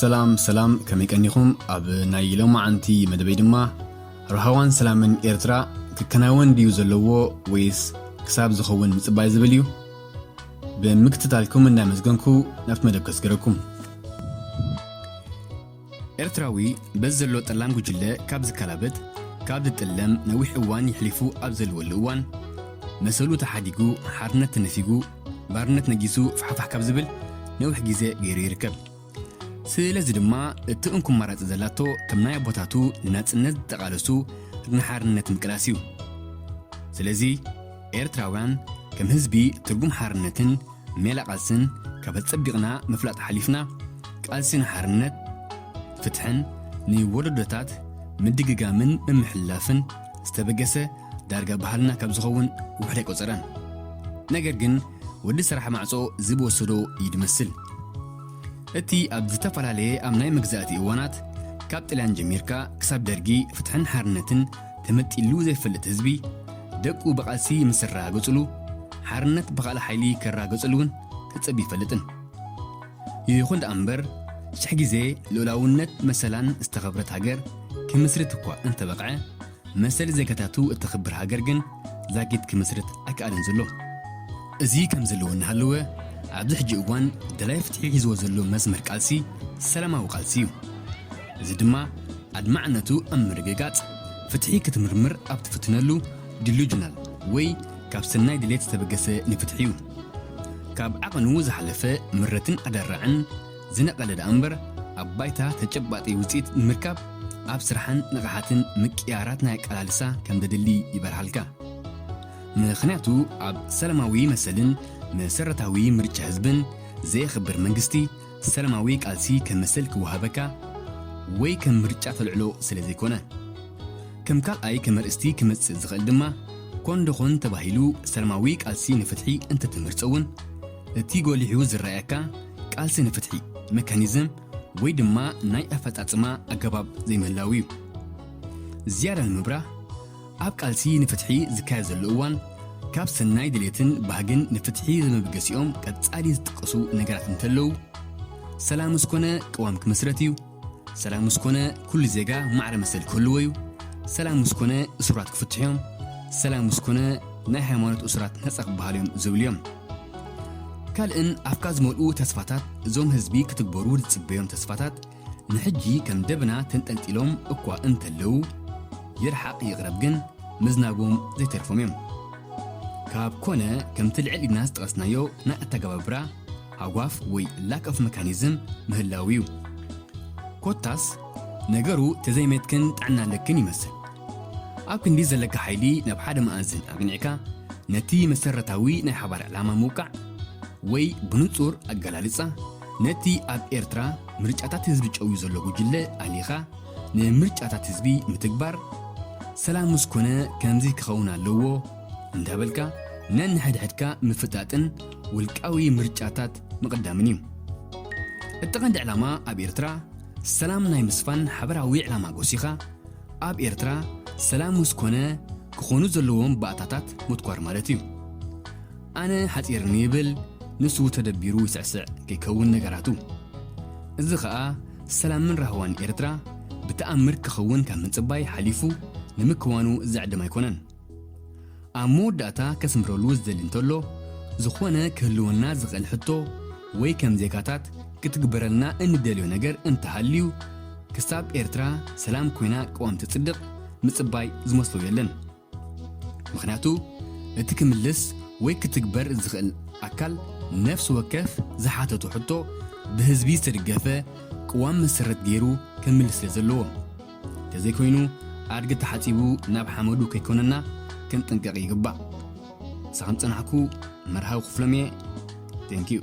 ሰላም ሰላም ከመይ ቀኒኹም ኣብ ናይ ሎማዓንቲ መደበይ ድማ ርሃዋን ሰላምን ኤርትራ ክከናወን ድዩ ዘለዎ ወይስ ክሳብ ዝኸውን ምፅባይ ዝብል እዩ ብምክትታልኩም እንዳመዝገንኩ ናብቲ መደብ ከስገረኩም ኤርትራዊ በዚ ዘሎ ጠላም ጉጅለ ካብ ዝከላበት ካብ ዝጥለም ነዊሕ እዋን ይሕሊፉ ኣብ ዘልወሉ እዋን መሰሉ ተሓዲጉ ሓርነት ተነፊጉ ባርነት ነጊሱ ፋሕፋሕ ካብ ዝብል ነዊሕ ግዜ ገይሩ ይርከብ ስለዚ ድማ እቲ እንኩ ኣማራጺ ዘላቶ ከም ናይ ኣቦታቱ ንናጽነት ዝተቓለሱ ንሓርነት ምቅላስ እዩ ስለዚ ኤርትራውያን ከም ህዝቢ ትርጉም ሓርነትን ሜላ ቃልስን ካብ ኣጸቢቕና ምፍላጥ ሓሊፍና ቃልሲ ንሓርነት ፍትሕን ንወለዶታት ምድግጋምን ምምሕልላፍን ዝተበገሰ ዳርጋ ባህልና ካብ ዝኸውን ውሕድ ኣይቆጸረን ነገር ግን ወዲ ስራሕ ማዕጾ ዝብወሰዶ እዩ ድመስል እቲ ኣብ ዝተፈላለየ ኣብ ናይ መግዛእቲ እዋናት ካብ ጥልያን ጀሚርካ ክሳብ ደርጊ ፍትሕን ሓርነትን ተመጢሉ ዘይፈልጥ ህዝቢ ደቁ ብቓልሲ ምስ ዝረጋገጹሉ ሓርነት ብኻልእ ሓይሊ ክረጋገጹሉ እውን ተጸብዩ ይፈልጥን። ይኹን ደኣ እምበር ሽሕ ግዜ ልኡላውነት መሰላን ዝተኸብረት ሃገር ክምስርት እኳ እንተበቕዐ መሰል ዜጋታቱ እተኽብር ሃገር ግን ዛጊት ክምስርት ኣይከኣለን ዘሎ። እዚ ከምዚ እሉ እናሃለወ ኣብዚ ሕጂ እዋን ደላይ ፍትሒ ሒዝዎ ዘሎ መስመር ቃልሲ ሰላማዊ ቃልሲ እዩ። እዚ ድማ ኣድማዕነቱ ኣብ ምርግጋጽ፣ ፍትሒ ክትምርምር ኣብ ትፍትነሉ፣ Delusional፣ ወይ ካብ ሰናይ ድሌት ዝተበገሰ ንፍትሒ'ዩ። ካብ ዓቐኑ ዝሓለፈ ምረትን ኣደራዕን ዝነቐለ ደኣምበር፣ ኣብ ባይታ ተጨባጢ ውጽኢት ንምርካብ ኣብ ስራሕን ንቕሓትን ምቅይያራት ናይ ኣቀላልሳ ከም ዘድሊ ይበርሃልካ። ምኽንያቱ ኣብ ሰላማዊ መሰልን መሰረታዊ ምርጫ ህዝብን ዘየኽብር መንግስቲ፣ ሰላማዊ ቃልሲ ከም መሰል ክወሃበካ ወይ ከም ምርጫ ተልዕሎ ስለ ዘይኮነ። ከም ካልኣይ ከም ኣርእስቲ ክመጽእ ዝኽእል ድማ ኮን ዶኾን ተባሂሉ ሰላማዊ ቃልሲ ንፍትሒ እንተ ትመርጾ እውን እቲ ጎሊሑ ዝረኣየካ ቃልሲ ንፍትሒ መካኒዝም ወይ ድማ ናይ ኣፈጻጽማ ኣገባብ ዘይምህላው እዩ። ዝያዳ ንምብራህ፣ ኣብ ቃልሲ ንፍትሒ ዝካየድ ዘሎ እዋን ካብ ሰናይ ድሌትን ባህግን ንፍትሒ ዘመብገሲኦም ቀጻሊ ዝጥቀሱ ነገራት እንተለዉ ሰላም ምስ ኮነ ቅዋም ክምስረት እዩ፣ ሰላም ምስ ኮነ ኩሉ ዜጋ ማዕረ መሰል ክህልዎ እዩ፣ ሰላም ምስ ኮነ እሱራት ክፍትሑ እዮም፣ ሰላም ምስ ኮነ ናይ ሃይማኖት እሱራት ነጻ ክበሃሉ እዮም ዝብሉ እዮም። ካልእን ኣፍካ ዝመልኡ ተስፋታት እዞም ህዝቢ ክትግበሩ ዝጽበዮም ተስፋታት ንሕጂ ከም ደበና ተንጠልጢሎም እኳ እንተለዉ፣ ይርሓቕ ይቕረብ ግን ምዝናቦም ዘይተርፎም እዮም። ካብ ኮነ ከምቲ ልዕል ኢልና ዝጠቐስናዮ ናይ ኣተገባብራ ሃጓፍ ወይ ላክ ኦፍ መካኒዝም ምህላዉ እዩ። ኮታስ ነገሩ ተዘይሜትክን ጥዕና ኣለክን ይመስል። ኣብ ክንዲ ዘለካ ሓይሊ ናብ ሓደ መኣዝን ኣቕኒዕካ ነቲ መሰረታዊ ናይ ሓባር ዕላማ ምውቃዕ ወይ ብንጹር ኣገላልጻ ነቲ ኣብ ኤርትራ ምርጫታት ህዝቢ ጨውዩ ዘሎ ጉጅለ ኣሊኻ ንምርጫታት ህዝቢ ምትግባር ሰላም ምስ ኮነ ከምዚ ክኸውን ኣለዎ እንዳበልካ ነንሕድሕድካ ምፍጣጥን ውልቃዊ ምርጫታት ምቕዳምን እዩ። እቲ ቀንዲ ዕላማ ኣብ ኤርትራ ሰላም ናይ ምስፋን ሓበራዊ ዕላማ ጎሲኻ ኣብ ኤርትራ ሰላም ምስ ኮነ ክኾኑ ዘለዎም ባእታታት ምትኳር ማለት እዩ። ኣነ ሓጺርኒ ይብል ንሱ ተደቢሩ ይስዕስዕ ከይከውን ነገራቱ እዚ ከኣ ሰላምን ራህዋን ኤርትራ ብተኣምር ክኽውን ካብ ምጽባይ ሓሊፉ ንምክዋኑ ዘዕድም ኣይኮነን። ኣብ መወዳእታ ከስምረሉ ዝደሊ እንተሎ ዝኾነ ክህልወና ዝኽእል ሕቶ ወይ ከም ዜጋታት ክትግበረልና እንደልዮ ነገር እንተሃልዩ ክሳብ ኤርትራ ሰላም ኮይና ቅዋም ትጽድቕ ምጽባይ ዝመስሎ የለን። ምኽንያቱ እቲ ክምልስ ወይ ክትግበር ዝኽእል ኣካል ነፍሲ ወከፍ ዝሓተቶ ሕቶ ብህዝቢ ዝተድገፈ ቅዋም መሰረት ገይሩ ከምልስ ስለ ዘለዎ። ተዘይኮይኑ ኣድጊ ተሓጺቡ ናብ ሓመዱ ከይኮነና ክንጥንቀቕ ይግባእ። ምሳኹም ጸናሕኩ መርሃዊ ክፍሎም'የ። Thank you።